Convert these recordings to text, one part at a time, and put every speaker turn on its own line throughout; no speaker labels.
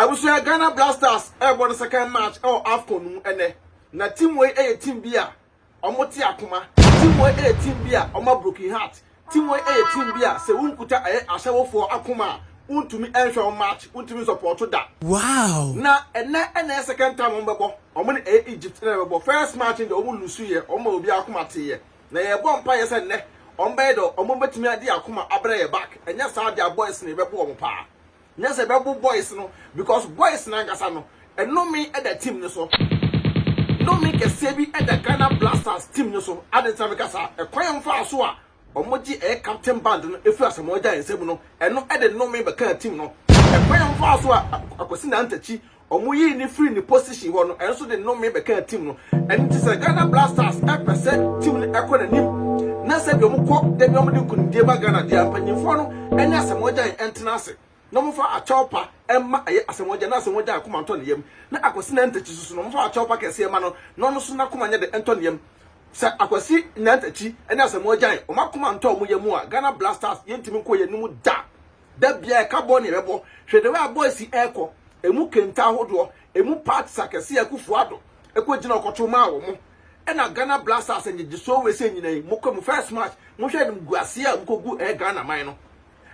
Abusua, Ghana Blasters rebɔ ne second match wɔ Afcon no mu ɛnnɛ. Na team wei yɛ team bi a wɔn te akoma, team wei yɛ team bi a wɔn a broken heart, team wei yɛ team bi a sɛ wo nkuta ɛyɛ ahyɛwofoɔ akoma a wo ntumi nhwɛ wɔn match, wo ntumi nsupporto da. Wow! Na ɛnnɛ na ɛyɛ second time wɔn bɛbɔ, wɔn ne ɛyɛ Egypt na ɛbɛbɔ, first match no deɛ wɔn loose yɛ, wɔn ma obiara akoma teeɛ. Na yɛrebɔ mpaeɛ sɛ nnɛ wɔn bɛyɛ deɛ wɔn bɛtumi ade akoma abrɛ yɛn back, ɛnyɛ saa deɛ a boys no yɛbɛbo wɔn paa. Nyɛ sɛ bɛbo boys no because boys no ankasa no nnome da team no so. Nnome kɛseɛ bi da Ghana Blasters team no so. Adɛn nti na meka saa? Ɛkwan a wɔfaa so a wɔgye ɛyɛ captain band no firi Asamoah Gyan nsam no, ɛno de nnome bɛkaa team no. Ɛkwan a wɔfaa so a Akwasi Nantah Kyi Ɔmo yii no firi ne position hɔ no nso de nnome bɛkaa team no. Ɛno nti sɛ Ghana Blasters pɛ sɛ team no ɛkɔ n'anim na sɛdeɛ ɔmo kɔ da biara ɔmo de nkunimdie ba Ghana deɛ a, mpanyinfoɔ no ne Asɛmɔgyan ntena ase na ɔmo fa akyɛw pa mma ɛyɛ Asɛmɔgyan na Asɛmɔgyan akoma ntɔ ne yam na Akwasi Nantakyi nso no ɔmo fa akyɛw pa kɛseɛ ma no na ɔno nso n'akoma nyɛ dɛ ntɔ ne yam. Sɛ Akwasi Nantakyi ne Asɛmɔgyan ɔmo akoma ntɔ ɔmo yam a Ghana Blasters yɛntumi nkɔ yɛn anim da. Da biara ɛka bɔ nea ɛbɛbɔ. Hwɛ the way a boys yi ɛkɔ. Ɛmu kenta ahodoɔ. Ɛmu parts akɛseɛ a Akuffo Addo ɛkɔ gyina ɔkɔto maa wɔn. Ɛna Ghana Blasters ngyegyesoɔ wei sei nyina yi. Mokɔ mu first match. Monhwɛ animguaseɛ a mokɔ gu ɛyɛ Ghana man no.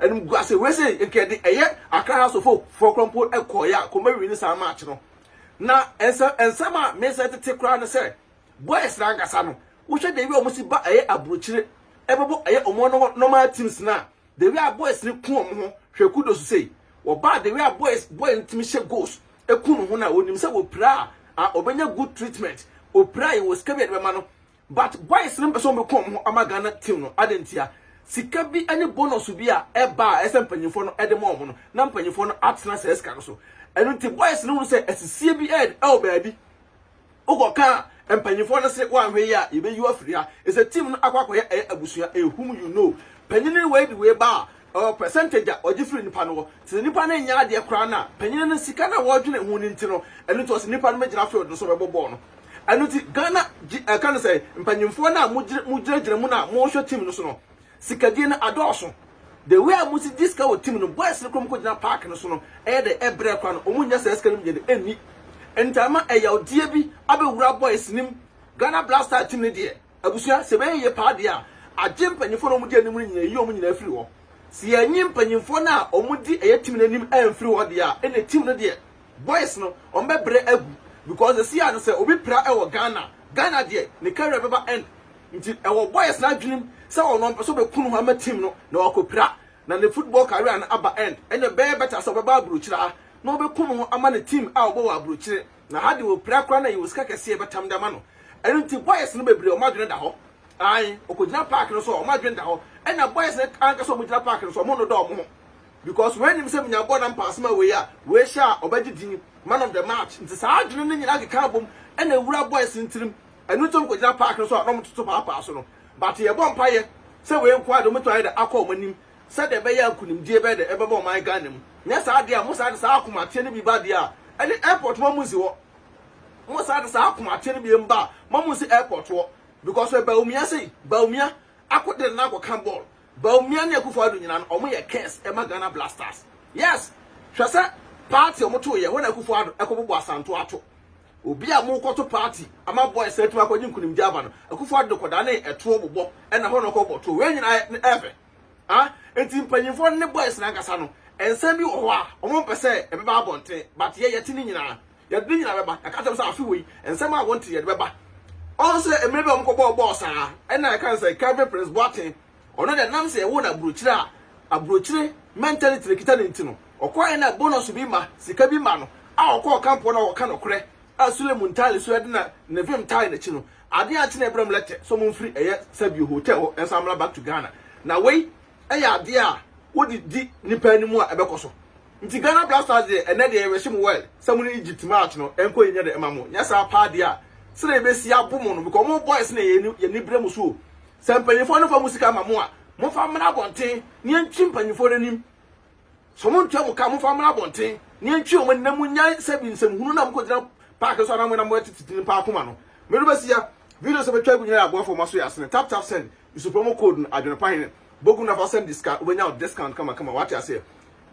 Animguaseɛ wei sei nka yɛde ɛyɛ Accra House of Hope foɔ koraa mpo ɛkɔɔeɛ a nka wɔn bɛ wini saa match no. Na ɛnsɛ ɛnsɛm a me nsa tete koraa ne sɛ boys no ankasa no wohwɛ the way a wɔn si ba ɛyɛ abrokyire ɛbɛbɔ ɛyɛ wɔn normal teams no a The Wia Boys no ku wɔn ho hwɛ kudos sei. Wɔbaa The Wia Boys boy no tumi hyɛ goals eku ne ho na onim sɛ wɔpira a ah, ɔbɛnya good treatment. Opira yi wɔ sika bi a yɛde bɛma no but boys no mpɛ sɛ wɔbɛku wɔn ho ama Ghana team no adɛn ntia? Sika bi ne bonus bi a ɛba a ɛsɛ mpanyinfoɔ no ɛde ma wɔn no na mpanyinfoɔ no atena saa sika no so. Ɛno nti boys no hunu sɛ asisie bi ɛɛd ɛwɔ baabi. Wokɔka mpanyinfoɔ no se woanhwɛ yie a yɛbɛyi wo afiri ha. Ɛsɛ team no akɔ akɔyɛ ɛyɛ abusua ɛyɛ whom you know. Panyini wei de wei ba a ɔwɔ percentage a ɔgye firi nipa no hɔ. Te sɛ nipa no nyɛ adeɛ koraa no a panyini no sika no a wɔdwene ho no nti no ɛno nti ɔse nipa no mɛgyina field no so mɛbɔ bɔɔl no. Ɛno nti Ghana G ɛka no sɛn mpanyinfoɔ no a mogyina gyina mu no a mohwɛ team no so no Sikadie no adɔɔso. The way a ɔmo si gye sika wɔ team no, boys no kura ɔmo kɔ gyina park no so no, ɛyɛ dɛ ɛbrɛ kwa no, ɔmo nnya saa sika no mu gyede nni. Ɛnti ama ɛyawdeɛ bi abɛwura boys no mu. Ghana Black Stars team no deɛ, abusua, sɛ ɛbɛyɛ yie paa deɛ a, agye mpanyinfoɔ no a ɔmo di anim no nyinaa ayi ɔmo nyinaa afiri hɔ. Sɛ yɛanyi mpanyinfoɔ no a ɔmo di ɛyɛ team no anim amfiri hɔ deɛ a, ɛnneɛ team no deɛ, boys no, ɔmo bɛbrɛ agu. Because seesei ara no sɛ obi pira ɛwɔ Ghana, Ghana deɛ, ne career bɛba end. Nti ɛwɔ Boyes n'adwenem sɛ ɔno ɔmpɛ sɛ ɔbɛku ne ho ama team no na wakɔpira na ne football career no aba end. Ɛnna ɛbɛyɛ better sɛ ɔbɛba aburokyire ha na ɔbɛku ne ho ama ne team a ɔbɔ wɔ aburokyire. Na ha deɛ ɔpira koraa na yɛwɔ sika kɛse a yɛbɛtam de ama no. Ɛno nti Boyes no bebree wɔn adwene da hɔ. Ae, ɔkɔgyina park no so a wɔn adwene da hɔ. Ɛnna Boyes no anka sɛ wɔgyina park no so a wɔnnodɔ wɔn ho. Because wei nim sɛ menya bɔɔl na mpaase ma wei a, wei hyɛ a ɔbɛgye din, man of the match. Nti saa adwene no nyinaa keka abom na ɛwura Boyes no tirim. Ɛno nti wɔkɔgyina park no so a na wɔtoto paapaa so no. But yɛbɔ mpaeɛ sɛ wei nko ara deɛ wɔbɛtumi ayɛ dɛ akɔ wɔn anim sɛdeɛ ɛbɛyɛ a nkunimdie bɛyɛ dɛ ɛbɛba ɔman Ghana mu. Nyɛ saa deɛ a mosan de saa akomateɛ no bi ba deɛ a ɛne airport ma monsi hɔ. Mosan de saa akomateɛ no biem ba a ma monsi airport hɔ because hwɛ Bawumia sei, Bawumia akɔ de ne nan akɔka ball. Bawumia ne Akuffo Addo nyinaa no wɔyɛ curse ɛma Ghana Blasters. Yes! Hwɛ sɛ party a wɔtoeɛ hɔ na Akuffo Addo ɛkɔbobɔ Asanto ato. Obi a morekɔto party ama boys no atumi akɔgye nkunimdie aba no, Akufo-Addo de kɔdanee ɛtoɔ bobɔ na hɔ na ɔkɔbɔ toɔ. Wei nyinaa yɛ ne ɛfɛ. Ah, enti mpanyinfoɔ no ne boys no ankasa no, nsɛm bi wɔ hɔ a wɔn mpɛ sɛ ɛbɛba abɔnten, but yɛ yɛte ne nyinaa. Yɛde ne nyinaa bɛba. Yɛaka kyerɛ wɔn sɛ afe wei, nsɛm a wɔnte yɛde bɛba. Ɔn sɛ mmerɛ bi a wɔkɔbɔɔ bɔɔl saa, ɛna yɛka no sɛ Kelvin Prince Boateng Ɔno dɛ nam sɛ yɛwoo no aburokyire a aburokyire mentality na ɛkita no nti no, ɔkɔɔɛ na bonus bi ma, sika bi ma no a ɔkɔɔ camp hɔ na ɔkɔka nɔkorɛ a Sule Muntali so ɛde na ne vim tae n'akyi no, adeɛ ankye na ɛbrɛm lɛtɛ sɛ ɔmfiri ɛyɛ Sabio hotel hɔ nsan mmra back to Ghana. Na wei ɛyɛ adeɛ a wode di nipa anim a ɛbɛkɔ so. Nti Ghana Black Stars deɛ ɛnɛ deɛ yɛbɛhye mo well sɛ mo ne Egypt match no ɛnkɔ yie nyɛ dɛ mma mo, nyɛ saa paa deɛ a sɛdeɛ yɛbɛsi abo mo no because mo boys no yɛn ani brɛ mo so o. Sɛ mpanyimfoɔ no fa mo sika ma mo a, momfa mmra abɔnten na yɛntwe mpanyimfoɔ no anim. Sɛ wɔntua mo ka a, momfa mmra abɔnten na yɛntwe wɔn ani na monnyae sɛbi nsɛm hunu no a mokɔgyina park no so anaa mo na moatete nnipa akoma no. Mede bɛsi ya, videos a matwa agu nyinaa yɛ aboafo a wɔasɔ yɛn asene. Tap Tap Send, Use promo code no, Adwene Pa Hene, Bogu na fa send yɛn sika, wobɛnya wo discount kamakama, wate aseɛ.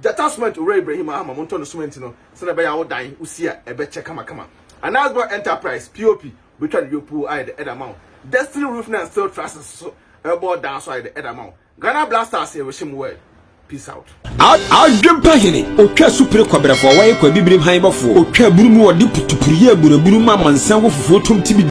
Gyata Cement, Owura Ibrahim aha ma montɔ no cement no sɛdeɛ ɛbɛyɛ a wo dan, wo si a, ɛbɛkyɛ kamakama. Anasgor Enterprise, POP. betwa ne yopoo ayɛ dɛ ɛde ama wo. Destiny Roof na Steel Trusses nso rebɔ dan so ayɛ dɛ ɛde ama wo. Ghana Black Stars yɛ w'ahyɛmu word. Peace out. Adwempa
hene, otwa supire kɔbrɛfoɔ, wɔyɛ kɔ abibirim han bɔfoɔ, otwa abunu mu, wɔde putupuruyɛ abunu abunu mu amansan wɔ fufuo tom tibidi.